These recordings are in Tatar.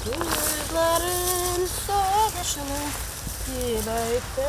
Күзләрен сагышның кибәйтә.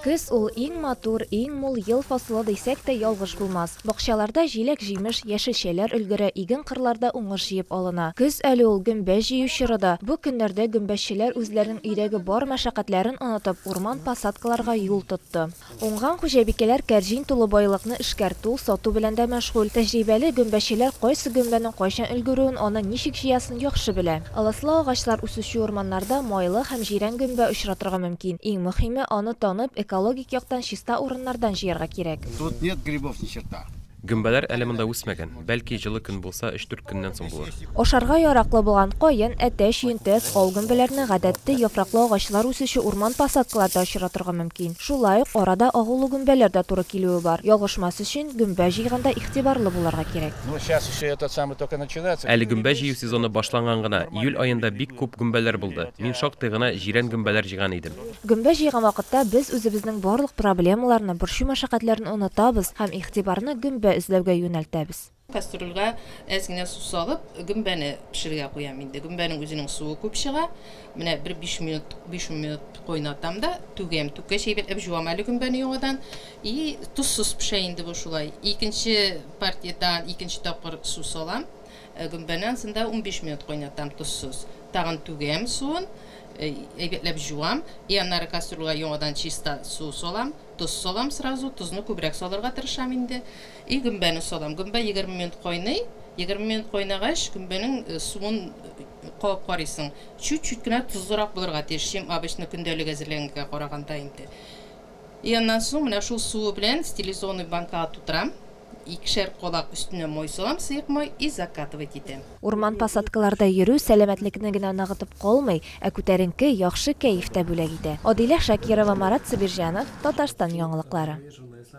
Көз ул, иң матур, иң мул ел фасылы дисәк тә ялгыш булмас. Бакчаларда җиләк-җимеш, яшелчәләр өлгерә, иген-кырларда уңыш җыеп алына. Көз әле ул, гөмбә җыю чоры да. Бу көннәрдә гөмбәчеләр үзләренең өйдәге бар мәшәкатьләрен онытып, урман посадкаларга юл тотты. Уңган хуҗабикәләр кәрҗин тулы байлыкны эшкәртү, сату белән дә мәшгуль. Тәҗрибәле гөмбәчеләр кайсы гөмбәнең кайчан өлгерүен, аны ничек җыясын яхшы белә. Ылыслы агачлар үсүче урманнарда майлы һәм җирән гөмбә очратырга мөмкин. Иң мөхиме, аны танып, экологик яктан чиста урыннардан җыярга кирәк. Тут нет грибов ни черта. Гөмбәләр әле монда үсмәгән, бәлки җылы көн булса, өч-дүрт көннән соң булыр. Ашарга яраклы булган каен, әтәч, йөнтәс, кал гөмбәләрне гадәттә яфраклы агачлар үсүче урман посадкаларда очратырга мөмкин. Шулай ук арада агулы гөмбәләр дә туры килүе бар. Ялгышмас өчен, гөмбә җыйганда игътибарлы булырга кирәк. Әле гөмбә җыю сезоны башланган гына, июль аенда бик күп гөмбәләр булды. Мин шактый гына җирән гөмбәләр җыйган идем. Гөмбә җыйган вакытта без үзебезнең барлык проблемаларны, борчу-мәшәкатьләрне онытабыз һәм игътибарны гөмбә эзләүгә юнәлтәбез. Кастрюльгә әз генә су салып, гөмбәне пешерергә куям инде. Гөмбәнең үзенең суы күп чыга. Менә бер биш минут, биш-ун минут кайнатам да, түгәм. Түккәч, әйбәтләп җуам әле гөмбәне яңадан. И тозсыз пешә инде бу шулай. Икенче партиядән икенче тапкыр су салам. Гөмбәнең сында унбиш минут кайнатам, тозсыз. Тагын түгәм суын, әйбәтләп җуам. И аннары кастрюлга яңадан чиста су салам, тоз салам сразу, тозны күбрәк салырга тырышам инде. И гөмбәне салам. Гөмбә егерме минут кайный. Егерме минут кайнагач, гөмбәнең суын кабып карыйсың. Чүт-чүт кенә тозлырак булырга тиеш, чем обычно көндәлек әзерләгәнгә караганда инде. И аннан соң менә шул суы белән стилизоны банкага тутырам, икешәр кадак өстенә май салам, сыек май, и закатывать итәм. Урман посадкаларда йөрү сәламәтлекне генә ныгытып калмый, ә күтәренке, яхшы кәеф тә бүләк итә. Адилә Шакирова, Марат Сабирҗанов, Татарстан яңалыклары.